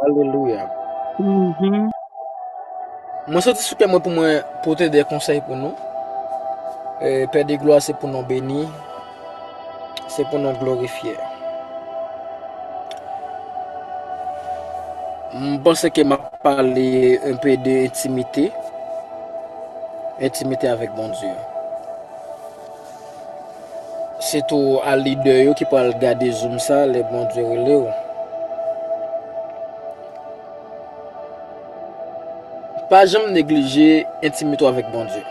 Alelouya. Mhm. Mwen soti sou kè mwen pou mwen pote de konsèy pou nou. E, Pè de glwa se pou nou beni, se pou nou glorifye. M panse ke m ap pale un peu de intimite, intimite avèk Bondye. Se tou a lidè yo ki pral gade zoom sa lè Bondye rele w. Pa janm neglije entimite w avèk Bondye.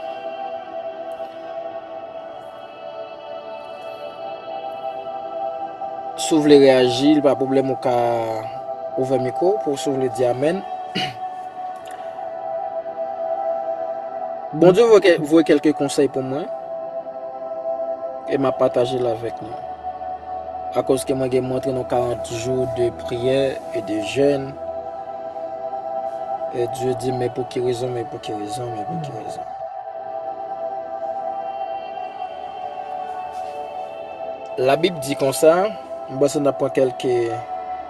Si w vle reyaji, li pa pwoblèm ou ka ouvè mikwo w pou w si w vle di amèn. Bondye voye kelke konsèy pou mwen, e m ap pataje l avèk nou. Akoz ke mwen gen mwen antre nan 40 jou de priyè e de jèn, e Dye di m men pou ki rezon, men pou ki rezon, men pou ki rezon. La Bib di konsa, m panse n ap pran kelke.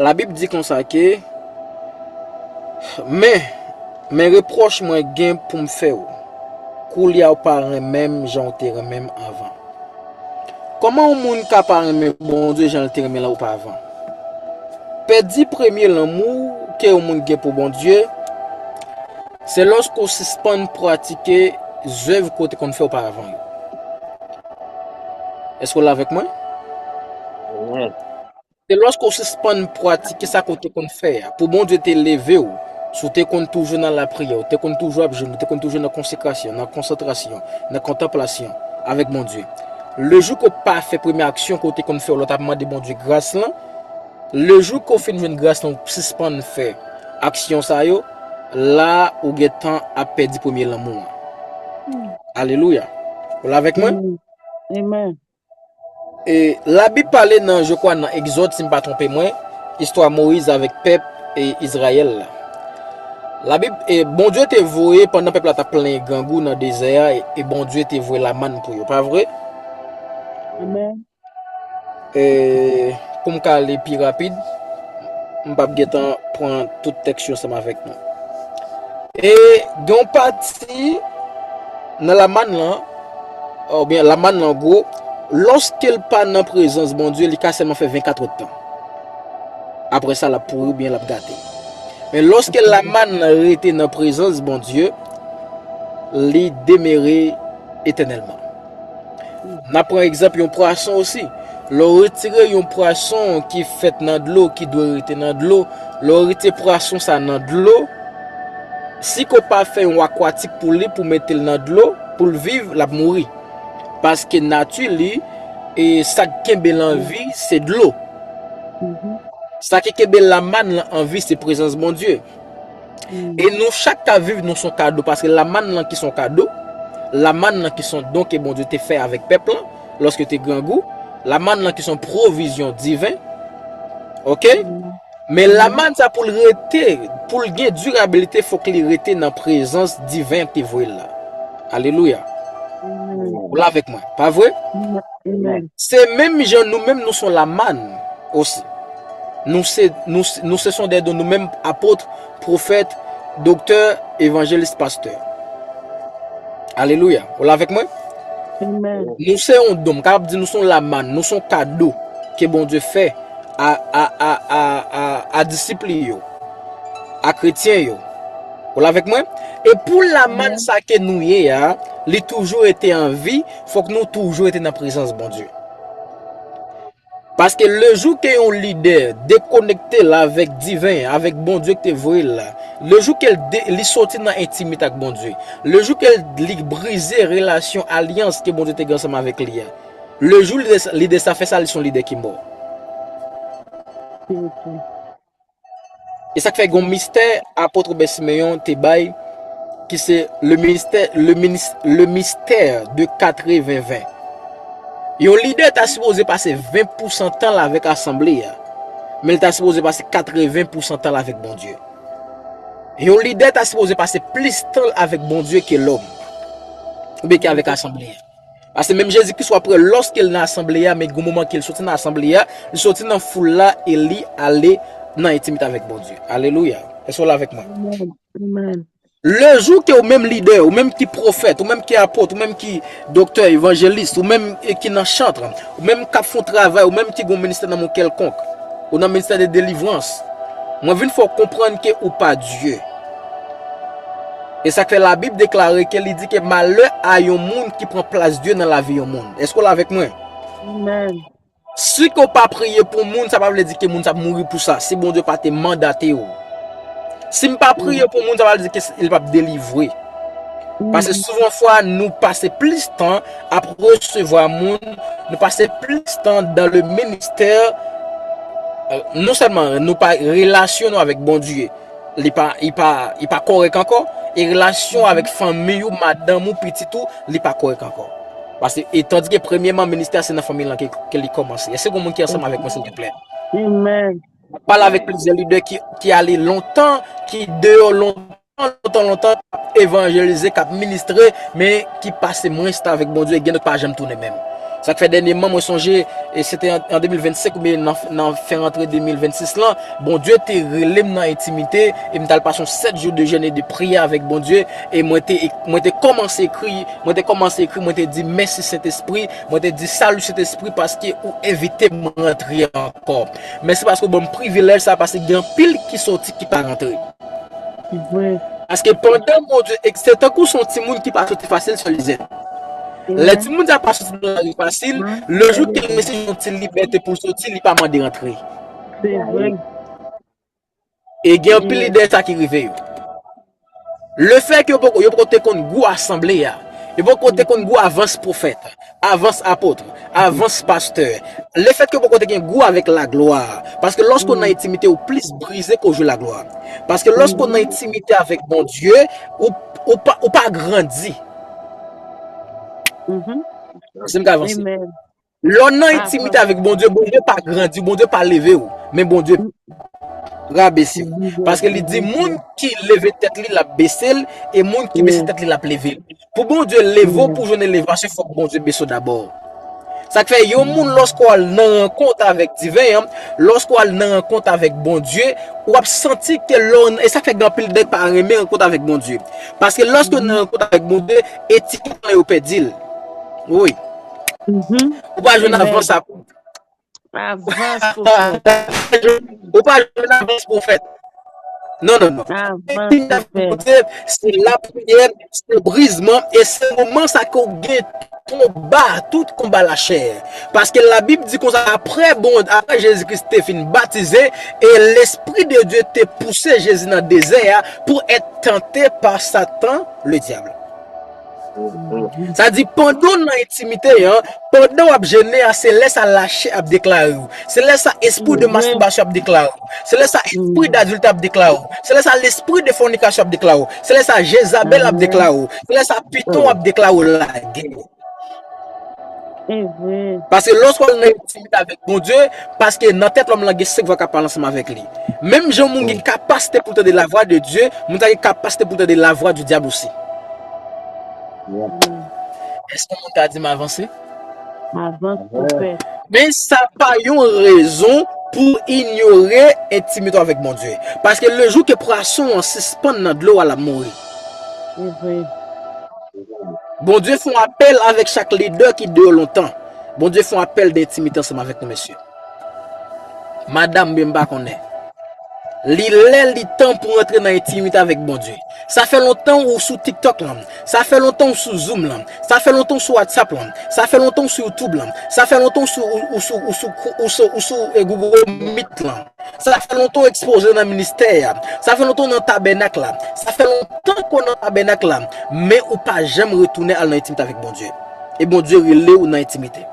Labib di konsa ke, Men, men repwòch mwen gen pou m fè ou, koulye a ou pa renmen m jan ou te renmen m anvan. Kòman yon moun ka pa renmen Bondye jan l te renmen l oparvan? Pèdi premye lanmou ke yon moun gen pou Bondye, se lòske ou sispann pratike zèv ke w te konn fè oparvan yo. Èske w la avèk mwen? Se lòske w sispann pratike sa ke w te konn fè a. Pou Bondye te leve w, si w te konn toujou nan lapriyè, w te konn toujou ap jèn, w te konn toujou nan konsekrasyon, nan konsantrasyon, nan kontanplasyon avèk Bondye. Le jou ke w pa fè premye aksyon ke w te konn fè yo lè w t ap mande Bondye gras lan, le jou ke w fin jwenn gras lan ou sispann fè aksyon sa yo, la a ou gentan ap pèdi premye lanmou an. Alelouya! Ou la avèk mwen? Amen. Amen. E labib pale nan je kwa nan egzod si m pa twonpe mwen istwa moyiz avèk pèp e izrayèl la labib e bondye te voye pandan pèp la ta plen grangou nan dezè a e bondye te voye lamann pou yo pa vre amen e pou m ka ale pi rapid m pap gentan pran tout tèks yo seman avèk nou e gen yon pati nan lamann lan Oubyen la manna an gwo, lòske l pa nan prezans Bondye, li ka sèlman fè venkatrèdtan. Apre sa, l ap pouri oubyen l ap gate. Men lòske la manna an rete nan prezans Bondye, li demere etènèlman. N ap pran egzanp yon pwason osi. Lè w retire yon pwason ki fèt nan dlo, ki dwe rete nan dlo, lè w retire pwason sa a nan dlo, si ke w pa fè yon akwatik pou li, pou w mete l nan dlo, Pou l viv l ap mouri. Paske nati li e sa k kenbe l an vi se dlo. Sa ki kenbe lamann lan an vi se prezans Bondye. E nou chak k ap viv nou son kado paske lamann lan ki son kado, lamann lan ki son don ke Bondye te fè avèk pèp lan lòske te grangou, lamann lan ki son pwovizyon diven. Ok? Men lamann sa poul rete, poul gen durabilité fok li rete nan prezans divin an ki voyel la. Alelouya. Ou la avèk mwen, pa vre? Se menm jan nou menm nou son lamann osi. Nou se son dè don nou menm apôtre. Profèt, Doktè, Evangelist, Pastè. Alelouya. Ou la avèk mwen? Amen. Nou se yon don. M kapab di nou se yon lamann. Nou se yon kado ke Bondye fè a disip li yo. A kretyen yo. Ou la avèk mwen? E pou lamann sa ke nou ye a, li toujou rete an vi, fòk nou toujou rete nan prezans Bondye. Paske lejou ke yon lidè dekonekte l avèk diven an, avèk Bondye ki te voye l la, lejou ke li soti nan entimite ak Bondye, lejou ke li brize relasyon alyans ke Bondye te gen ansanm avèk li a, lejou lidè sa fè sa li se yon lidè ki mò. E sa k fè gen yon mistè Apot Robè Simeyon te bay ki se le mistè de katreven ven. Yon lidè ta sipoze pase ven pousan tan l avèk asanble a, men l ta sipoze pase katreven pousan tan l avèk Bondye. Yon lidè ta sipoze pase plis tan l avèk Bondye ke lòm, oubyen ke avèk asanble a. Pase menm Jezi Kris wap wè lòske l nan asanble a men gen yon moman ke l soti nan asanble a, li soti nan foul la e li ale nan entimite avèk Bondye. Alelouya! Èske w la avèk mwen? Amen! Le jou ke ou menm lidè, ou menm ki pwofèt, ou menm ki apot, ou menm ki doktè, evanjelis, ou menm ki nan chantre, ou menm kap fon travay, ou menm ki gon ministè nan men w kèlkonk, ou nan ministè de delivrans, mwen vin fè w konprann ke ou pa Dye. E sak fè labib deklare ke li di ke malè a yon moun ki pran plas Dye nan lavi yon moun. Eske w la avèk mwen? Amen. Si ke w pa priye pou moun, sa pa vle di ke moun sa ap mouri pou sa, si Bondye pa te mandate w. Si m pa priye pou moun, sa pa vle di ke li pa p delivre. Pase souvan fwa nou pase plis tan ap resevwa moun, nou pase plis tan dan le ministè, non sèlman nou pa relasyonnen avèk Bondye. Li pa li pa li pa kòrèk ankò e relasyon avèk fanmiy ou, madanm ou, pitit ou, li pa kòrèk ankò. Pase e tandike premyeman ministè a se nan fanmiy lan ke ke li kòmanse. Èske gon moun ki ansanm avèk mwen silteplè? Amen. Mwen pale avèk plizyè lidè ki ki ale lontan, ki deyò lontan, lontan lontan, k ap evanjelize, k ap ministre, men ki pase mwens tan avèk Bondye e gen lòt pa janm tounen menm. Sa k fè dènyeman mwen sonje e se te an 2025 oubyen nan nan fen rantre 2026 lan, Bondye te rele m nan entimite e m t al pase yon 7 jou de jèn e de priyè avèk Bondye e mwen te mwen te kòmanse ekri mwen te kòmanse ekri mwen te di mèsi Sentespri mwen te di salut Sentespri paske ou envite m rantre ankò mèsi paske ou ban m privilèj sa paske gen anpil ki sòti ki pa rantre Se vre. paske pandan Bondye e se tankou se yon timoun ki pa sòti fasil sè Lizèt Se lè vre. timoun sa pa sòti nan lari fasil Mwen lè jou ke l mèsi. resi yon ti libète pou l sòti li pa mande rantre. Se vre. E gen anpil lidè sa ki rive yo. Le fèk yo poko, yo poko te konn gou asanble ya. Yo poko te konn gou avans profèt, avans apotre, avans pastè. Le fèk yo poko te gen gou avèk la glwa. Paske lòske ou nan etimite ou plis brize ko jou la glwa. Paske lòske ou nan etimite avèk bon Dieu, ou pa grandi. Amen. Lè w nan entimite avèk Bondye, Bondye pa grandi, Bondye pa leve w, men Bondye rabese w. Paske li di moun ki leve tèt li, l ap bese l, e moun ki bese tèt li, l ap leve l. Pou Bondye leve w, pou w jwenn elevasyon, fòk Bondye bese w dabò. Sa k fè yon moun lòske w al nan rankont avèk diven an, lòske w al nan rankont avèk Bondye, w ap santi ke lè w, e sa k fè gen anpil nèg pa renmen rankont avèk Bondye. Paske lòske yo nan rankont avèk Bondye, etikèt lan yo pèdi l. Wi. Mhm. Ou pa jwenn Amen. avans ap. Avans pou fèt. Ou pa jwenn avans pou fèt. Non, non, non. Avans pou fèt. Se la priyè, se brizman, e se moman sa ke ou gen konba, tout konba la chè. Paske la Bib di konsa, apre bon, apre Jezi Kris te fin batize, e Lespri de Dieu te pouse Jezi nan dezè a, pou et tante pa Satan le Diable. Sa di pandan w nan entimite an, pandan w ap jene a, se lè sa lachè ap deklare w. Se lè sa espri de Amen. mastibasyon ap deklare w. Se lè sa espri Mm. dadiltè ap deklare w. Se lè sa lespri de fònikasyon ap deklare w. Se lè sa Jezabèl ap Amen. deklare w. Se lè sa piton Mm. ap deklare w lagè. Amen. Paske lè w swa nan entimite avèk Bondye, paske nan tèt lòm lan gen 5 vwa kap pale ansanm avèk li. Menm jan moun gen kapasite pou l tande lavwa de Dye, moun sa gen kapasite pou l tande lavwa di dyab osi. Èske moun ka di m avanse? Avanse pwofèt. Men sa pa yon rezon pou w inyore entimite w avèk Bondye. Paske lejou ke pwason an sispann nan dlo a l ap mouri. Bondye fon apèl avèk chak lidè ki deyò lontan. Bondye fon apèl de entimite ansanm avèk nou mesye. Madam byen m pa konnen. Li lè li tan pou antre nan entimite avèk Bondye. Sa fè lontan ou sou tiktok lan. Sa fè lontan ou sou zoom lan. Sa fè lontan ou sou whatsapp lan. Sa fè lontan ou sou youtube lan. Sa fè lontan ou sou ou sou ou sou ou sou ou sou Google meet lan. Sa fè lontan w ekspoze nan ministè a. Sa fè lontan w nan tabènak la. Sa fè lontan ke w nan tabènak la. Men ou pa janm retounen al nan entimite avèk Bondye. E Bondye rele w nan entimite.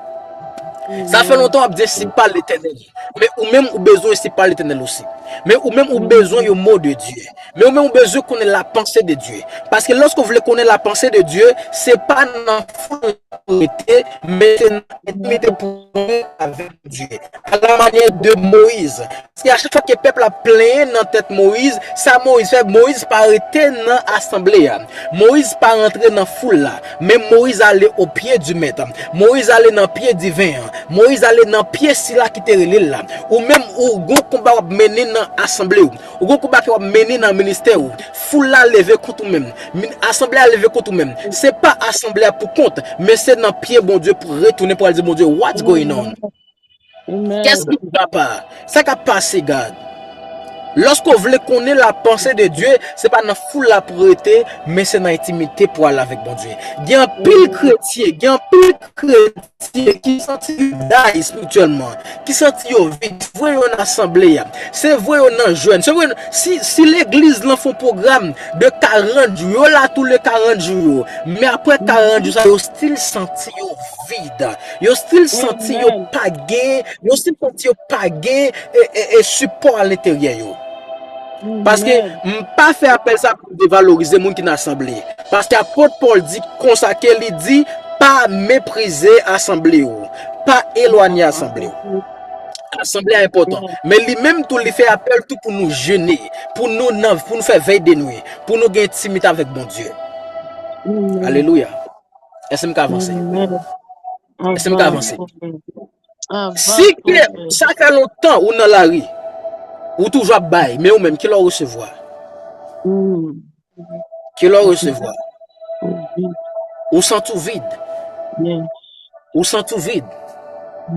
Sa fè lontan w ap di ensi pa Letènèl. Men ou menm ou bezwen ensi pa Letènèl osi. Men ou menm ou bezwen yon mo de Dye. Men ou menm ou bezwen konnen la panse de Dye. Paske lòske w vle konnen la panse de Dye, se pa nan foul la pou w rete, men se nan entimite pwofon avèk. Bondye. A la manyè de Moyiz. Paske a chak fwa ke pèp la ap plenyen nan tèt Moyiz, sa Moyiz fè, Moyiz pa rete nan asanble a. Moyiz pa rantre nan foul la. Men Moyiz ale o pye di Mèt. Moyiz ale nan pye diven an. Moyiz ale nan pye sila ki te rele l la. Ou menm, ou gon konba w ap mennen nan asanble ou. Ou gon konba ke wap mennen nan ministè ou. Foul la leve kont ou menm. Min asanble a leve kont ou menm. Se pa asanble a pou kont, men se nan pye Bondye pou retounen pou al di Bondye what's going on? Amen. Amen. Qu'est-ce qui ne va pas? Sa kap pase God? Lorsque ou vle konnen la pensée de Dieu, se pa nan foul la pou rete, men se nan intimite pou al avèk Bondye. Gen anpil kretyen, gen anpil kretyen. Ti yo ki santi yo day espirityèlman, ki santi yo vid, voye yo nan asanble a. Se voye yo nan jèn. Se voye yo nan, si legliz lan fon pwogram de 40 jou, yo la tou le 40 jou yo. Men apre 40 jou sa yo stil santi yo vid. Yo stil santi yo pa gen, yo stil santi yo pa gen e sipò a lenteryè yo. Paske m pa fè apèl sa. Pou devalorize moun ki nan asanble. Paske apot Pòl di konsa ke li di, Pa meprize asanble yo. Pa elwanye asanble yo. Asanble a enpòtan. Men li menm tou li fè apèl tou pou nou jene. Pou nou nan, pou nou fè vèy de nwi. Pou nou gen entimite avèk Bondye. Alelouya. Èske m ka vanse? Èske m ka vanse? Anvan Si ke tout moun. sa fè lontan ou nan lari, ou toujou ap bay, men ou menm ki lè ou resevwa? Hmm. Ki lè ou Vid. resevwa? Ou vid. Ou santi ou vid. Yes. Ou santi ou vid.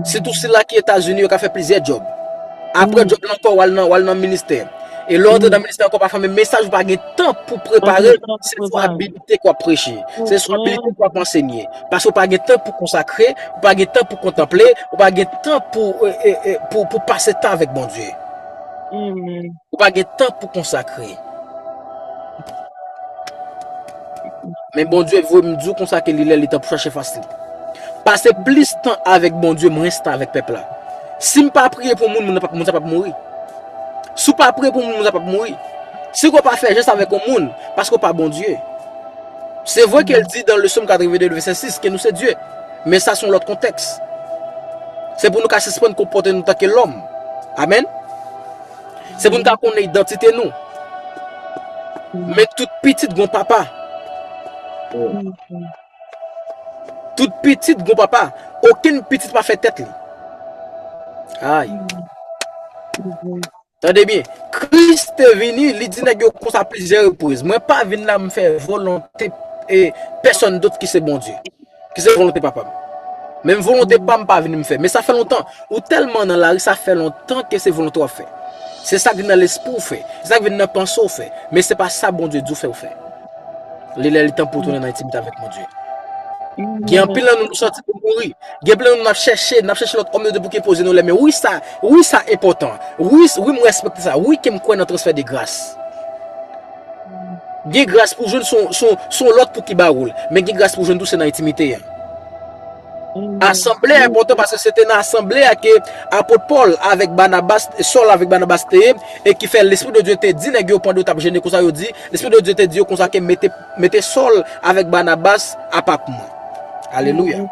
Sitou Hmm. sila ki Etazini yo ka fè plizyè job. Apre Hmm. job lan ankò wal nan wal nan ministè. E lè ou antre nan Hmm. ministè ankò pafwa men mesaj ou pa gen tan pou Pas gen prepare, tan pou se swa prepare. Te kwa preche, se sou abilite kwa pansenye. Pase ou pa gen tan pou konsakre, ou pa gen tan pou kontanple, ou pa gen tan pou pase tan avèk Bondye. Ou pa gen tan pou konsakre. Men Bondye vwe mdou konsakre li lè li tan pou chache fasli. Pase plis tan avèk Bondye mwens tan avèk pèpla. Sim pa priye pou moun, moun sa pap mouri. Sou pa priye pou moun, moun sa pap mouri. Si ke w pa fè jès avèk yon moun, paske w pa Bondye. Se vre ke l di nan le Som 82 vèsè 6 ke nou se dye, men sa se yon lòt kontèks. Se pou nou ka sispann konpòte nou tanke lòm. Amen. Se pou nou ka konnen idantite nou. Men tout pitit gon papa. Tout pitit gon papa. Okenn pitit pa fè tèt li. Ay. Tande byen, Kris te vini, li di nèg yo konsa plizyè repriz, mwen pa vin la m fè volonte e pèsòn dot ki se Bondye, ki se volonte papa m. Menm volonte pa m pa vini m fè. Men sa fè lontan, ou tèlman nan lari sa fè lontan ke se volonte w ap fè. Se sa k vin nan lespri w fè, se sa k vin nan panse w fè, men se pa sa Bondye di w fè ou fè. Li lè li tan pou tounen nan intimite avèk Bondye. Gen anpil nan nou nou sòti pou mouri. Gen anpil nan nou nap chèche, nap chèche lòt òm de Dye pou ki poze nou lè men. Wi sa, wi sa enpòtan. Wi, wi m respekte sa. Wi ke m kwè nan transfè de gras. Gen gras pou jwenn son, son, son lòt pou ki ba ou l. Men gen gras pou jwenn tou se nan intimite an. Asanble a enpòtan paske se te nan asanble a ke apot Pòl avèk Banabas, Sòl avèk Banabas te ye, e ki fè Lespri de Dye te di nèg yo pandan yo t ap jene konsa, yo di, Lespri de Dye te di yo konsa ke mete, mete Sòl avèk Banabas a pa pou mwen. Alelouya!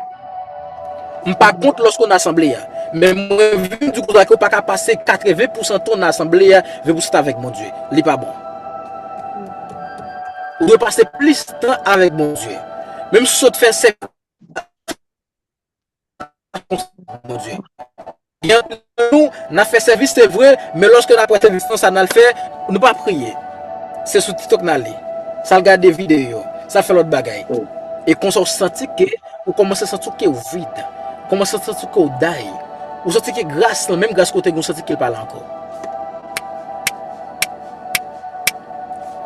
M pa kont lòske w nan asanble a, men mwen vin di w konsa ke w pa ka pase katreven pousan tan w nan asanble a vin pou w site avèk Bondye. Li pa bon. Ou dwe pase plis tan avèk Bondye. Menm si w sot fè sèk. Nan fè sèvis se vre, men lòske nan fè sèvis nan sa nan fè, nou pa priye. Se sou TikTok nan li. Sa l gade videyo, sa l fè lòt bagay. E konsa ou santi ke, ou kòmanse santi ou ke ou vid. Ou kòmanse santi ou ke ou day. Ou santi ke gras lan, menm gras ke ou te gen, ou santi ke l pa la ankò.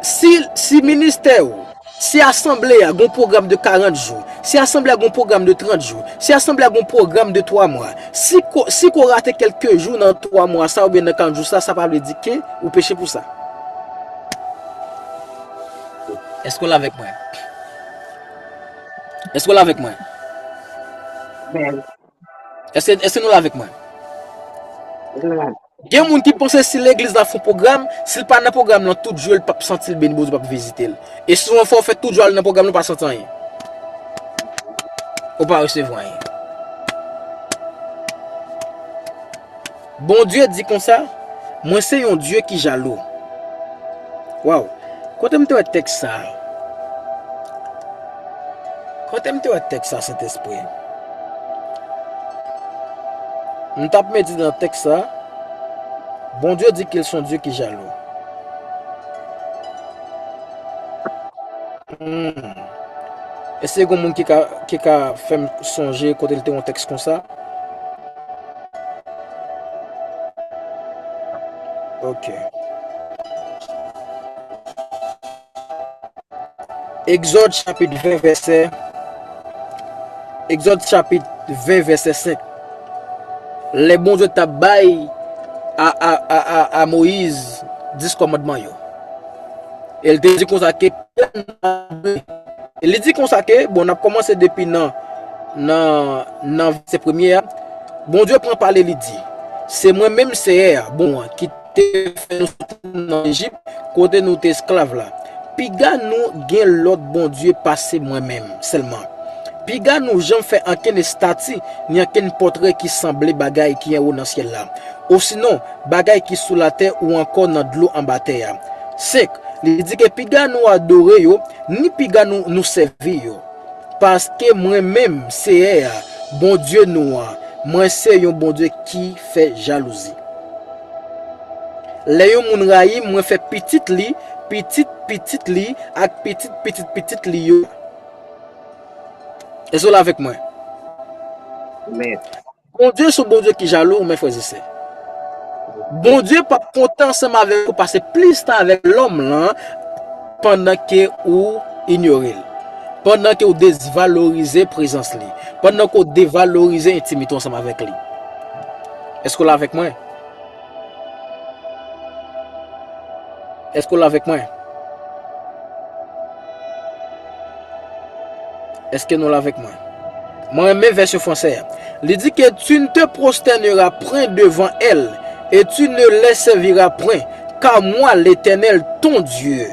Si ministè ou. Si asanble a gen yon pwogram de 40 jou, si asanble a gen yon pwogram de 30 jou, si asanble a gen yon pwogram de 3 mwa, si ke w rate kèlke jou nan 3 mwa sa oubyen nan 40 jou sa, sa pa vle di ke ou peche pou sa. Èske w la avèk mwen? Èske w la avèk mwen? Amen. Eske eske nou la avèk mwen? Mla. Gen moun ki panse si legliz la fon pwogram, si l pa nan pwogram lan tout jou l pap santi l beni Bondye pap vizite l. E souvan fò w fè tout jou al nan pwogram lan ou pa santi anyen. Ou pa resevwa anyen. Bondye di konsa, Mwen se yon Dye ki jalou. Waww! Kote m te wè tèks sa a? Kote m te wè tèks sa a, Sentespri? M t ap medite nan tèks sa a, Bondye di ke l se yon Dye ki jalou. Hum. Èske gen yon moun ki ka fè m sonje kote m te wè yon tèks konsa? Ok. Egzòd chapit 20 vèsè Egzòd chapit 20 vèsè 5 Lè Bondye t ap bay a Moyiz dis kòmandman yo. E li te di konsa ke pèp nan pa dwe, e li di konsa ke, bon n ap kòmanse depi nan, nan vèsè premye a, Bondye pran pale li di, Se mwen menm Seyè a, Bon an, ki te fè nou soti nan Ejip, kote nou te esklav la. Piga nou gen lòt bondye pase mwen menm sèlman. Piga nou janm fè ankenn estati ni ankenn pòtre ki sanble bagay ki anwo nan syèl la, osinon, bagay ki sou latè ou ankò nan dlo anba tè a. 5, Li di ke piga nou adore yo, ni piga nou nou sèvi yo. Paske mwen menm, Seyè a, Bondye nou an, mwen se yon Bondye ki fè jalouzi. Lè yon moun rayi m, mwen fè pitit li, pitit pitit li, ak pitit pitit pitit li yo. Èske w la avèk mwen? Men, Bondye son Bondye ki jalou men frèz e sè. Bondye pap kontan ansanm avèk ou pase plis tan avèk lòm lan pandan ke ou inyore l. Pandan ke ou desvalorize prezans li. Pandan ke ou devalorize entimite w ansanm avèk li. Eske w la avèk mwen? Èske w la avèk mwen? Èske nou la avèk mwen? Mwen renmen vèsyon fransè a. Li di ke tu ne te prostènera pwen devan èl, e tu ne lè sèvira pwen, ka mwa, Letènèl, ton Dye.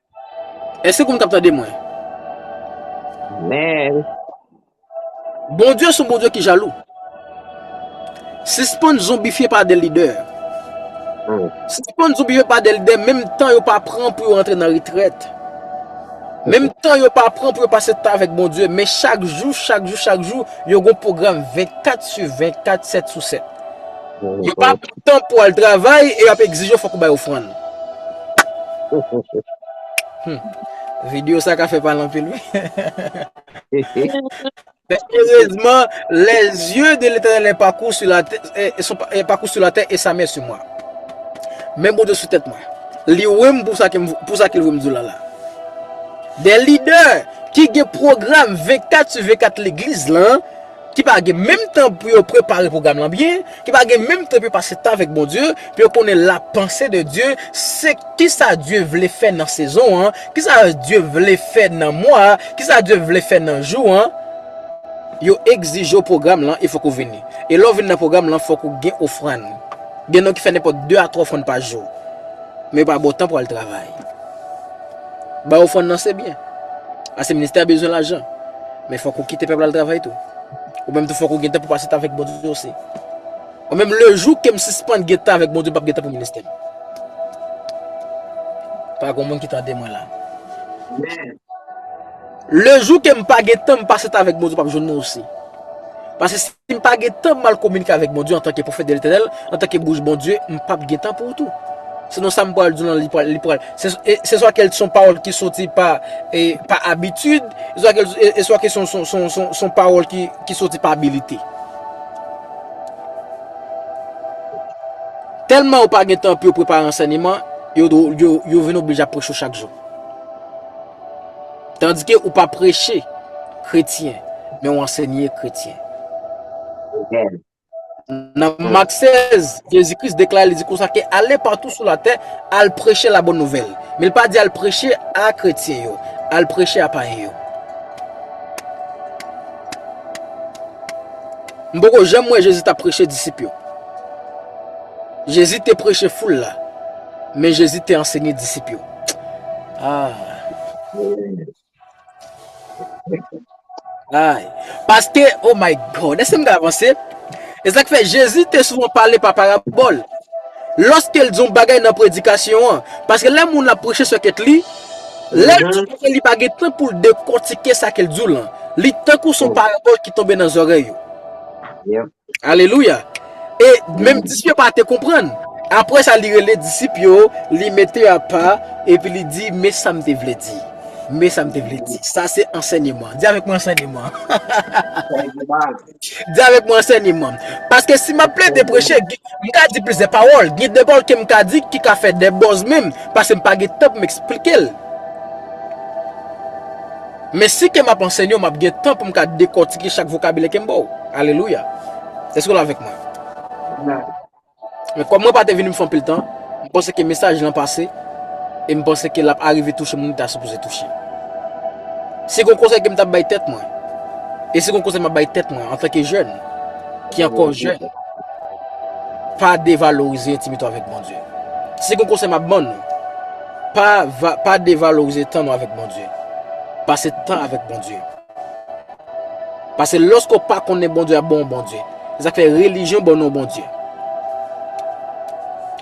Eske konn kap tande mwen. Amen. Bondye son Bondye ki jalou. Sispann zonbifye pa de lidè. Sispann zonbifye pa de lidè menm tan yo pa pran pou yo antre nan retrèt. Menm tan yo pa pran pou yo pase tan avèk Bondye. Men chak jou, chak jou, chak jou, yo gon pwogram 24 su 24, 7 sou 7. Yo pa pran tan pou al travay e yo ap egzije w fòk ou bay ofrann. Hum. Video sa ka fè pale anpil wi. Men erezman, lè zye de Letènèl e pakou sou la tè, e, e son pa- e pakou sou la tè e sa men sou mwa. Men Bondye sou tèt mwen. Li wè m pou sa ke m, pou sa ke l wè m di w la la. Des leaders ki gen program 24 sur 24 legliz lan ki pa gen menm tan pou yo prepare pwogram lan byen, ki pa gen menm tan pou yo pase tan avèk Bondye, pou yo konnen la panse de Dye, se kisa Dye vle fè nan sezon an, kisa Dye vle fè nan mwa a, kisa Dye vle fè nan jou an, yo egzije w pwogram lan e fòk ou vini. E lè w vin nan pwogram lan fòk ou gen ofrann. Gen nou ki fè nenpòt 2 a 3 ofrann pa jou. Men yo pa ba w tan pou al travay. Bay ofrann nan se byen, paske ministè a bezwen lajan. Men fòk ou kite pèp la al travay tou. Ou menm tou fòk ou gen tan pou pase tan avèk Bondye osi. Mwen menm le jou ke m sispann gen tan avèk Bondye m pap gen tan pou ministè m. Pa gon moun ki tande mwen la. Le jou ke m pa gen tan m pase tan avèk Bondye m pap jwenn nou osi. Paske Si m pa gen tan mal kominike avèk Bondye antanke pwofèt de Letènèl, antanke bouch Bondye, m pap gen tan pou ou tou. Se non sa m pral di w lan li pral li pral se swa kèl son pawòl ki soti pa pa abitid, se swa kèl se swa ke son son son son son pawòl ki ki soti pa abilite. Tèlman yo pa gen tan pou yo prepare ansèneman, yo yo yo vin oblije ap preche w chak jou. Tandike ou pa preche kretyen, men w ansenye kretyen. Amen. Nan Mak 16, Jezi Kris deklare li di konsa ke ale patou sou latè, al preche labòn nouvèl. Men li pa di al preche a kretyen yo, al preche a payen yo. M poko janm wè Jezi tap preche disip yo. Jezi te preche foul la, men Jezi te ansenye disip yo. Ay, paske, oh my God, eske m ka avanse? E sa k fè Jezi te souvan pale pa parabòl lòske l di yon bagay nan predikasyon an. Paske lè moun ap preche sou tèt li, lè l di yon bagay li pa gen tan pou l dekòtike sa ke l di w lan. Li tankou son parabòl ki tonbe nan zòrèy yo. Alelouya! E, menm disip yo pa te konprann. Apre sa, li rele disip yo, li mete yo apa, epi li di, Men sa m te vle di. Men sa m te vle di. Sa se ansènyeman. Di avèk mwen ansènyeman. Ansènyeman. Di avèk mwen ansènyeman. Paske si m ap plede preche, m ka di plizyè pawòl. Gen de pawòl ke m ka di ki ka fè de bòz menm, paske m pa gen tan pou m esplike l. Men si ke map anseny yo map gen tan pou m ka dekòtike chak vokabilè ke m ba w. Alelouya. Èske w la avèk mwen? Amen. Men kòm mwen pa te vini pou m fè anpil tan, m panse ke mesaj lan pase e m panse ke lap arive touche moun li ta sipoze touche. Si gen yon konsèy ke m ta bay tèt mwen, e si gen yon konsèy map bay tèt mwen antanke jèn, ki ankò jèn, pa devalorize entimite w avèk Bondye. Si gen yon konsèy map ban nou, Pa va pa devalorize tan nou avèk Bondye. Pase tan avèk Bondye. Pase lòske w pa konnen Bondye ap ban w Bondye. Se sak fè relijyon ban nou Bondye.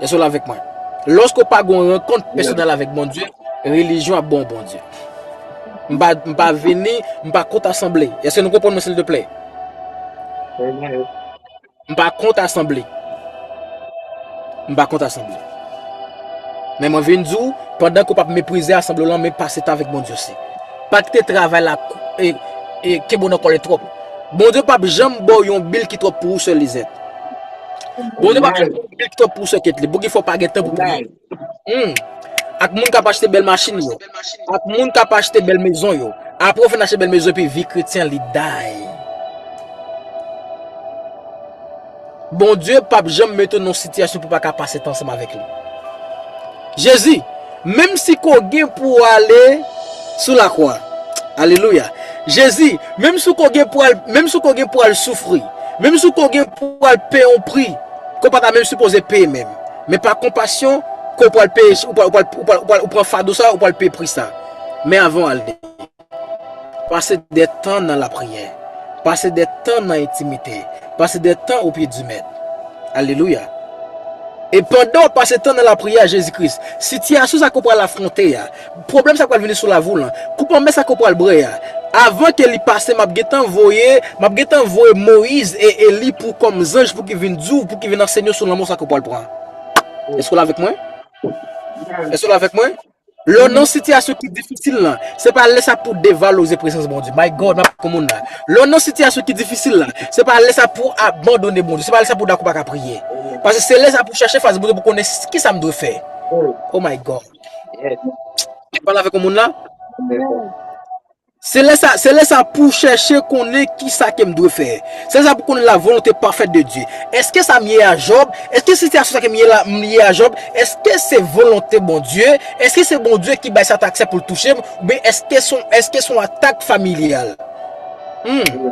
Èske w la avèk mwen? Lòske w pa gon rankont pèsonèl avèk Bondye, relijyon ap ban w Bondye. M pa m pa vini, m pa kont asanble. Èske nou konprann mwen sildeplè? M pa kont asanble. M pa kont asanble. Men mwen vin di w, pandan ke w pa p meprize asanble w lan, men pase tan avèk Bondye osi. Pa kite travay la kenbe w nan kòlè twòp. Bondye pa p janm ba w yon bil ki twòp pou ou, sè Lizèt. Bondye pa p janm ba w yon bil ki twòp pou ou, sè Ketli. Pou ki fè w pa gen tan pou priye. Humm. Ak moun kap achte bèl machin yo. Ak moun kap achte bèl mezon yo. Apre ou fin achte bèl mezon epi vi kretyen li day. Bondye pap janm mete w nan yon sitiyasyon pou w pa ka pase tan ansanm avèk li. Jezi, menm si ke w gen pou w ale sou lakwa. Alelouya. Jezi, menm si ke w gen pou al, menm si ke w gen pou al soufri. Menm si ke w gen pou al peye yon pri ke w pa ta menm sipoze peye menm. Men pa konpasyon ke w pral peye, ou pral, ou pral, ou pral, ou pral, ou pran fado sa, ou pral peye pri sa. Men avan w al de. Pase de tan nan lapriyè. Pase de tan nan entimite. Pase de tan opye di Mèt. Alelouya. E pandan w ap pase tan nan lapriyè a Jezi Kris, sitiyasyon sa ke w pral afwonte a, Pwoblèm sa pral vini sou lavi w lan. Koup anmè sa ke w pral bwè a. Avan ke li pase map gentan voye, map gentan voye Moyiz e Eli pou kòm zanj pou ki vin di w, pou ki vin ansenye w sou lanmò sa ke w pral pran. Eske w la avèk mwen? Eske w la avèk mwen? Lè w nan yon sitiyasyon ki difisil lan, se pa lè sa pou w devalorize prezans Bondye. My God, map pran moun la. Lè w nan yon sitiyasyon ki difisil la, se pa lè sa pou w abandone Bondye. Se pa lè sa pou w dakò w paka priye. Paske se lè sa pou w chache fas Bondye pou w konnen kisa m dwe fè. Oh my God! Yes. Mwen pale avèk yon moun la. Amen. Se lè sa, se lè sa pou w chèche konnen ki sa ke m dwe fè. Se lè sa pou konnen la volonté parfaite de Dieu. Eske sa m ye a Job, eske sitiyasyon sa ke m ye la, m li ye a Job, eske se volonté Bondye, eske se Bondye ki bay sa t aksè pou l touche m, oubyen eske son, eske son atak familyal. Humm.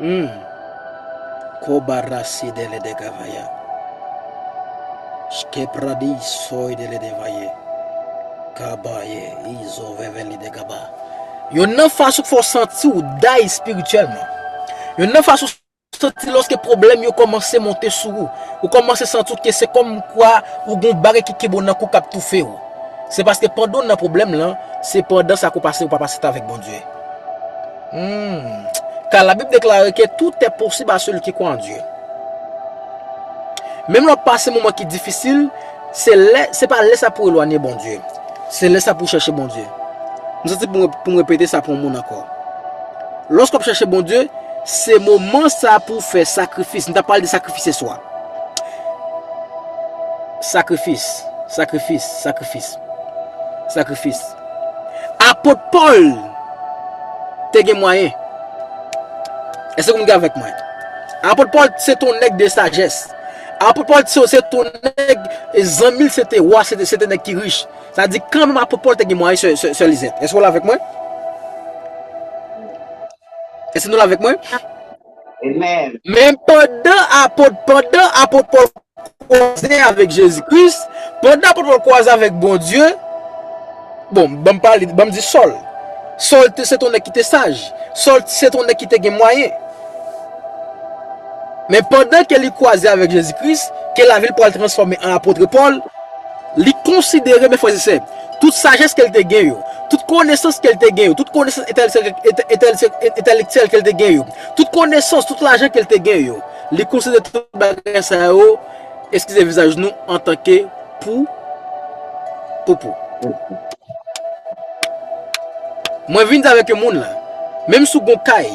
Humm koba rasi dele de gavaya shke pradi soy dele de vaye kaba ye izo veve li de gaba yonn nan fas ou k fè w santi w day spirityèlman yonn nan fas ou santi loske pwoblèm yo komanse monte sou ou ou komanse santi w ke se kom kwa ou gon bagay ki kenbe w nan kou kap toufe w se paske pandan w nan pwoblèm lan se pandan sa ke w pase ou pa pase tan avèk Bondye. Kal la bib deklare ke tout e posib a seli ki kwè an Dye. Menm lè wap pase moman ki difisil, se lè, se pa lè sa pou elwanye Bondye. Se lè sa pou chèche Bondye. M santi pou m repete sa pou yon moun ankò. Lòske wap chèche Bondye, se moman sa pou fè sakrifis. M ta pale de sakrifis yè swa. Sakrifis, sakrifis, sakrifis, sakrifis. Apot Pòl te gen mwayen. Èske moun gen avèk mwen? Apot Pòl se te yon nèg de sajès. Apot Pòl se te yon nèg, zanmi l se te wa, se te nèg ki rich. Sa di kan menm apot Pòl te gen mwayen, sè Lizèt. Èske w la avèk mwen? Èske nou la avèk mwen? Amen. Men, pandan apot pandan apot Pòl kwaze avèk Jezi Kris, pandan apot Pòl kwaze avèk Bondye, bon, ban m pale, ban m di Sòl. Sòl te se t on nèg ki te saj. Sòl se t on nèg ki te gen mwayen. Men, pandan ke li kwaze avèk Jezi Kris, ke lavi l pral transfòme an apotre Pòl, li konsidere, men frè e sè, Tout sajès ke l te gen yo. Tout konesans ke l te gen yo. Tout konesans entèlektyèl ke l te gen yo. Tout konesans, tout lajan ke l te gen yo. Li konsidere tout bagay sa yo, eskize vizaj nou, antanke pou poupou. Mwen vin di avèk yo moun lan, menm si w gen yon kay,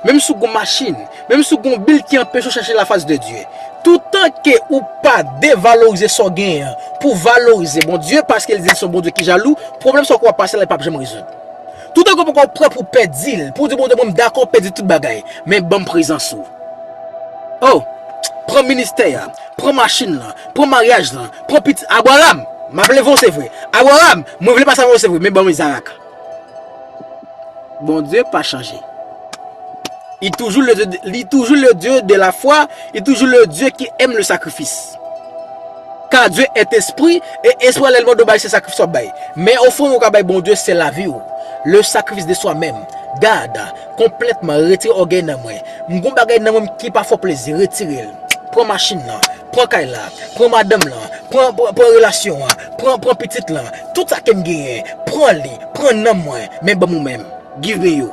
menm si w gen yon machin, Menm si w gen yon bil ki anpeche w chèche lafas de Dye, toutan ke ou pa devalorize sa w genyen an pou w valorize Bondye, paske li di li se yon Bondye ki jalou, pwoblèm sa w ke w ap pase la li pap janm rezoud. Toutan ke w poko prè pou w pèdi l, pou w di Bondye mwen m dakò pèdi tout bagay, men ban m prezans ou. Oh! Pran ministè a, pran machin lan, pran maryaj lan, pran pitit, Abraram! M ap leve w se vre. Abraram! Mwen vle pase avè w se vre, men ban m Izarak. Bondye pa chanje. Li toujou le Dye de la fwa, li toujou le Dye ki èm le sakrifis. Ka Dye et espri, e espri a lèl mande w bay se sakrifis wap bay. Men ofrann ou ka bay Bondye se lavi w. Le sakrifis de swa menm. Gad, konplètman retire ògèy nan mwen. M gon bagay nan mwen ki pa fè w plezi, retire l. Pran machin nan, pran kay la, pran madanm lan, pran relasyon an, Pran, pran pitit lan, tout sa ke m genyen, pran li, pran nanm mwen, men ban m ou menm. Give me you.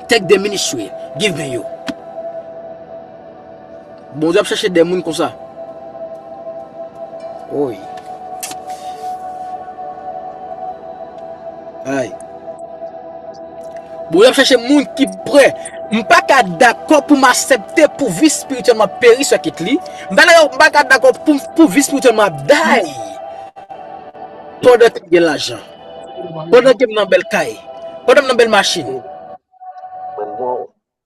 Take the ministry, give me you. Bondye ap chache de moun konsa. Woy. Ay. Bondye ap chache moun ki pre. M pa ka dakò pou m asepte pou vi spirityèl mwen peri sou Ketly. Mpa yo mpa ka dakò pou pou vis pou telman ap day pandan kem gen lajan pandan kem nan bèl kay pandan m nan bèl machin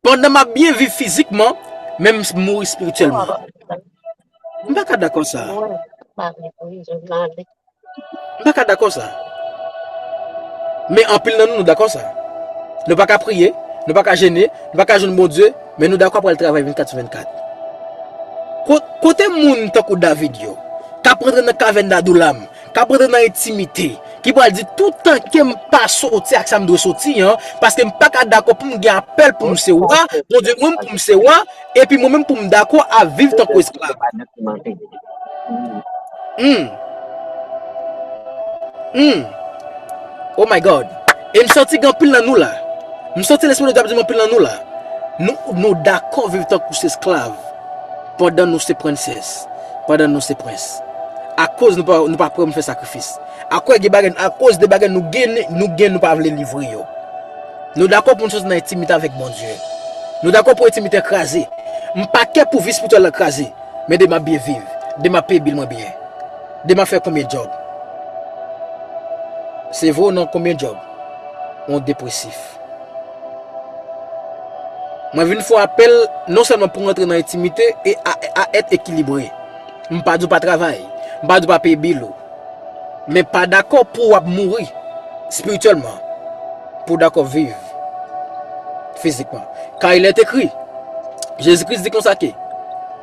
pandan map byen viv fizikman men m mouri spirityèlman mpa ka dakò sa. M pa ka dakò sa. Men anpil nan nou nou dakò sa. Nou pa ka priye, nou pa ka jene, nou pa ka jwenn Bondye, men nou dakò pou al travay 24 sou 24. Kote moun tankou David yo, k ap rantre nan kavèn Adoulam, k ap rantre nan entimite, ki pral di tout tanke m pa soti ak sa m dwe soti an, paske m pa ka dakò pou m gen apèl pou m se wa, Bondye mwen m pou m se wa, Epi mwen menm pou m dakò a viv tankou esklav. Humm. Humm. Oh my God. E m santi gen anpil nan nou la. M santi Lespri Bondye ap di m anpil nan nou la. Nou dakò viv tankou se esklav pandan nou se princess, pandan nou se prince. Akoz nou pa prè pou n fè sakrifis. Akoz de bagay nou gen nou pa vle livre yo. Nou dakò pou n sòti nan entimite avèk Bondye. Nou dakò pou entimite kraze. M pa kè pou vi spirityèl la kraze. Men de m ap byen viv. De m ap peye bil mwen byen. De m ap fè konbyen djòb. Se vre ou non konbyen djòb yon depresif. Mwen vin fè w apèl non sèlman pou w rantre nan entimite e a èt ekilibre. M pa di w pa travay, m pa di w pa peye bill ou, men pa dakò pou w ap mouri spirityèlman pou w dakò viv fizikman. Kay lè t ekri, Jezi Kris di konsa ke,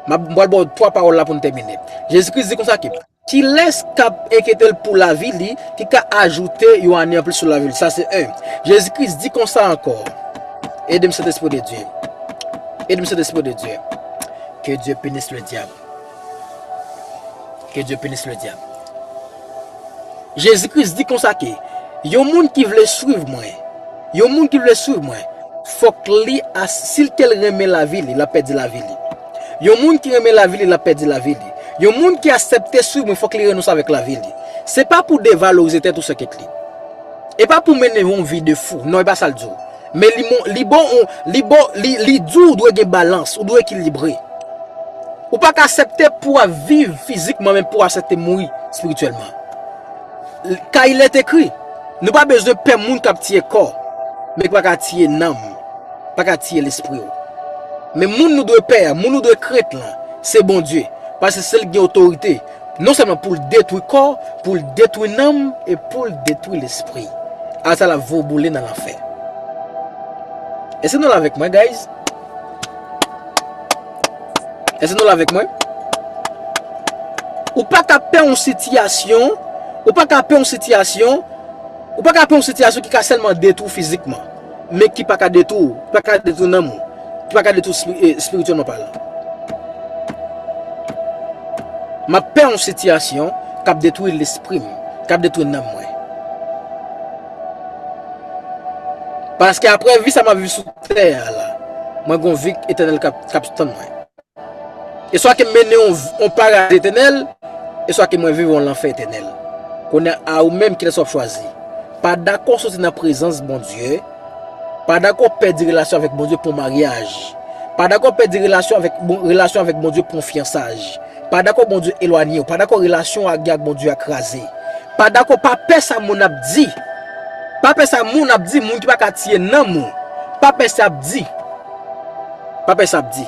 m ap pral ba w 3 pawòl la pou n tèmine. Jezi Kris di konsa ke, kilès k ap enkyete l pou lavi li ki ka ajoute yon ane anplis sou lavi l? Sa se 1. Jezi Kris di konsa ankò, ede m Sentespri de Dye, ede m Sentespri de Dye, ke Dye pinis le dyab. Ke Dye penis le diab. Jezi Kris di konsa ke yon moun ki vle swiv mwen, yon moun ki vle swiv mwen, fòk li as, si l kel renmen lavi li, l ap pèdi lavi li. Yon moun ki renmen lavi li, l ap pèdi lavi li. Yon moun ki asèpte swiv mwen fòk li renonse avèk lavi li. Se pa pou devalorize tèt ou sè Ketli. E pa pou mennen yon vi de fou. Non, e pa sa l di w. Men li mon li bon ou li bon li li di ou dwe gen balans ou dwe ekilibre ou pa ka asepte pou ap viv fizikman men pou asepte mouri spirityèlman ka il est ekri nou pa bezwen pè moun kap tiye kò men ki pa ka tiye nanm pa ka tiye lespri ou men moun nou dwe pè moun nou dwe krent lan se Bondye paske se li ki gen otorite Non sèlman pou l detwi kò, pou l detwi nanm e pou l detwi lespri. Al sa l ap vo boule nan lanfè. Èske nou la avèk mwen guys? Èske nou la avèk mwen? Ou pa ka pè yon sitiyasyon, ou pa ka pè yon sitiyasyon, ou pa ka pè yon sitiyasyon ki ka sèlman detwi w fizikman. men ki pa ka detwi w, ki pa ka detwi nanm ou, ki pa ka detwi w espirityèlman palan. M ap pè yon sitiyasyon k ap detwi lespri m, k ap detwi nanm mwen. Paske apre vi sa m ap viv sou tè a la, mwen gen yon vi etènèl k ap tann mwen. Eswa ke m mennen w yon paradis etènèl, eswa ke mwen viv yon lanfè etènèl. Kounye a, a ou menm, kilès w ap chwazi? Pa dakò soti nan prezans Bondye, pa dakò pèdi relasyon avèk Bondye pou yon maryaj, pa dakò pèdi relasyon avèk, relasyon avèk Bondye pou yon fyansaj, pa dakò Bondye elwanye w, pa dakò relasyon w gen ak Bondye a kraze, pa dakò, pa pè sa moun ap di, pa pè sa moun ap di, moun ki pa ka tiye nanm ou, pa pè sa y ap di. Pa pè sa ap di.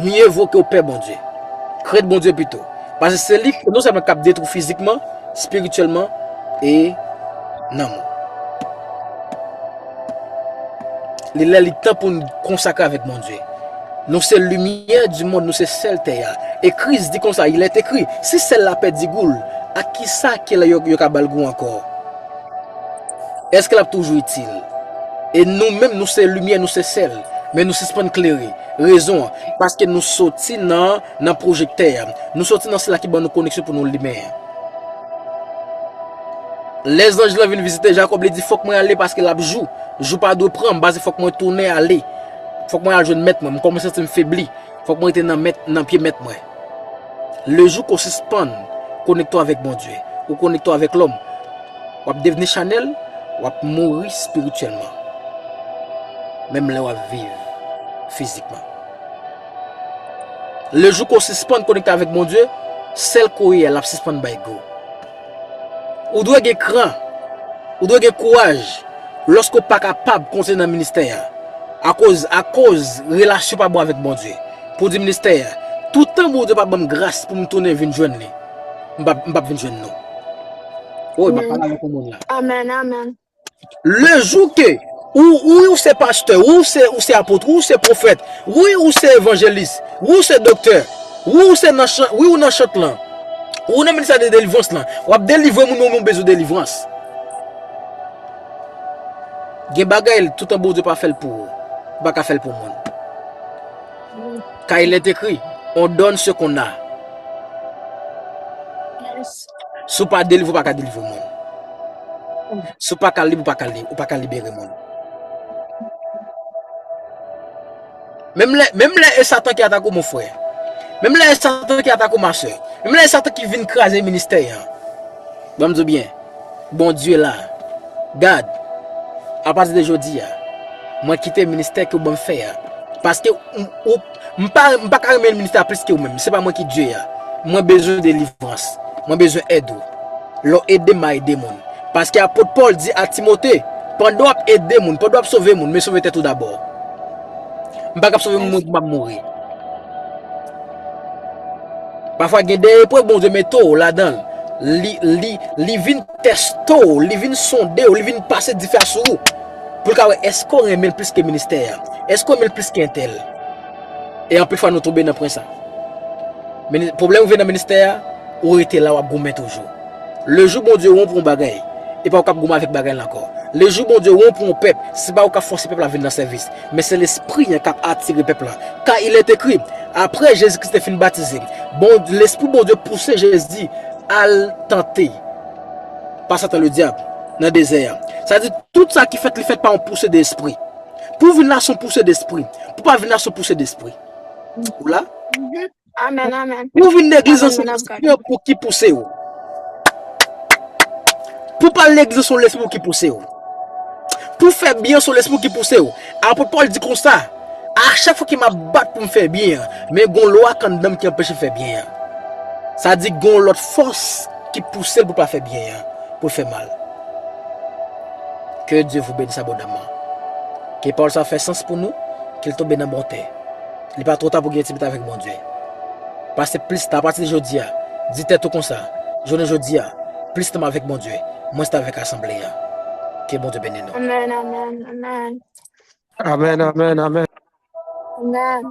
Mye vo ke w pè Bondye. Krent Bondye pito. Paske se li non sèlman kap detwi fizikman, spirityèlman e nanm ou. Li lè li tan pou n konsakre avèk Bondye. Nou se limyè di mond, nou se sèl tè a. E Kris di konsa, il est écrit, si sèl la pèdi gou l, ak kisa ki lè yo ka ba l gou ankò? Èske l ap toujou itil? E nou menm nou se limyè, nou se sèl, men nou sispann klere. Rezon an, paske nou soti nan nan pwojektè a. Nou soti nan sila ki ban nou koneksyon pou nou limen an. Lè zanj lan vin vizite Jakòb, li di, Fòk mwen ale paske l ap jou. Jou pa dwe pran m, paske fòk mwen tounen ale. Fòk mwen al jwenn mèt mwen. M kòmanse santi m febli. Fòk mwen rete nan pye mèt mwen. Lejou ke w sispann konekte w avèk Bondye, ou konekte w avèk lòm. Wap devni chanel, wap mouri spirityèlman. Menm lè wap viv fizikman. Le jou ko sispann konekte avèk Bondye, sèl kou ye a lap sispann bay gou. Ou dwe gen kran, ou dwe gen kouraj lòske ou pa kapab kontinye nan ministè a akoz akoz relasyon pa bon avèk Bondye. Pou di ministè a, toutan Bondye pa banm gras poum tounen vin jwenn li. M pa m pap vin jwenn nou. Woy map pale avèk yon moun la. Amen amen. Le jou ke ou wi ou se pastè, wi ou se ou se apot, wi ou se profèt, wi ou se evanjelis, wi ou se doktè, wi ou se nan chan, wi ou nan chant lan, wi ou nan ministè de delivrans lan, wap delivre moun yo moun bezwen delivrans. Gen bagay toutan Bondye pa fèl pou ou, ou pa ka fèl pou moun. Car il est écrit, on donne ce qu'on a. Yes. Si ou pa delivre, ou pa ka delivre moun. Si ou pa ka libre, ou pa ka libre, ou pa ka libere moun. Menm lè, menm lè e satan ki atak ou mon frè. Menm lè e satan ki atak ou ma sœur. Menm lè e satan ki vin kraze ministè an. Bon Dieu bien. Bondye la. Gad, apati de jodi a, mwen kite ministè ke ou banm fè a. Paske ou, m pa, m pa ka renmen ministè a plis ke ou menm. Se pa mwen ki Dye a. Mwen bezwen delivrans. Mwen bezwen èd ou. Lè w ede m, m a ede moun. Paske apot Pòl di a Timote, pandan w ap ede moun, pandan w ap sove moun, men sove tèt ou dabò. M pa kab sove moun pou m ap mouri. Pafwa gen de eprèv Bondye mete w ladan l, li vin teste w, li vin sonde w, li vin pase dife a sou ou, pou l ka wè èske w renmen l plis ke ministè a, èske w renmen l plis ke entèl. E anpil fwa nou tonbe nan pwen sa. Pwoblèm rive nan ministè a, ou rete la w ap goumen toujou. Le jou Bondye wè w pou yon bagay, e pa ou k ap goumen avèk bagay la ankò. Le jou Bondye wè w pou yon pèp, se pa ou k ap fòse pèp la vin nan sèvis. Men se Lespri an k ap atire pèp la. Ka il est écrit, Apre Jezi Kris te fin batize, Bond, Lespri Bondye pouse Jezi al tante pa Satan Ledyab nan dezè a. Sa di, tout sa ki fèt, li fèt pa yon pouse de Espri. Pou w vin la, s on pouse de Espri. Pou w pa vin la, s on pouse de Espri. Ou la? Amen, amen. Ou vin legliz lan Amen, se yon Madame Card. lespri anpou ki pouse ou. Pou pal legliz lan se yon lespri ki pouse ou. Pou fè byen se yon lespri ki pouse ou. Apot Paul di konsa, a chak fwa ke m ap bat pou m fè byen an, men gon lwa k anndan m ki anpeche m fè byen an. Sa di gon lòt fòs ki pouse l pou l pa fè byen an, pou l fè mal. Ke Dieu vous bénisse abondamment. Ke pawòl sa fè sans pou nou, ke l tonbe nan bon tè. Li pa twò ta pou gen yon ti mitan avèk Bondye. Pase plis tan, apati de jodi a, di tèt ou konsa, Jounen jodi a, plis tan m avèk Bondye, mwens tan avèk asanble a. Ke Bondye beni nou. Amen, amen, amen. Amen, amen, amen. Amen.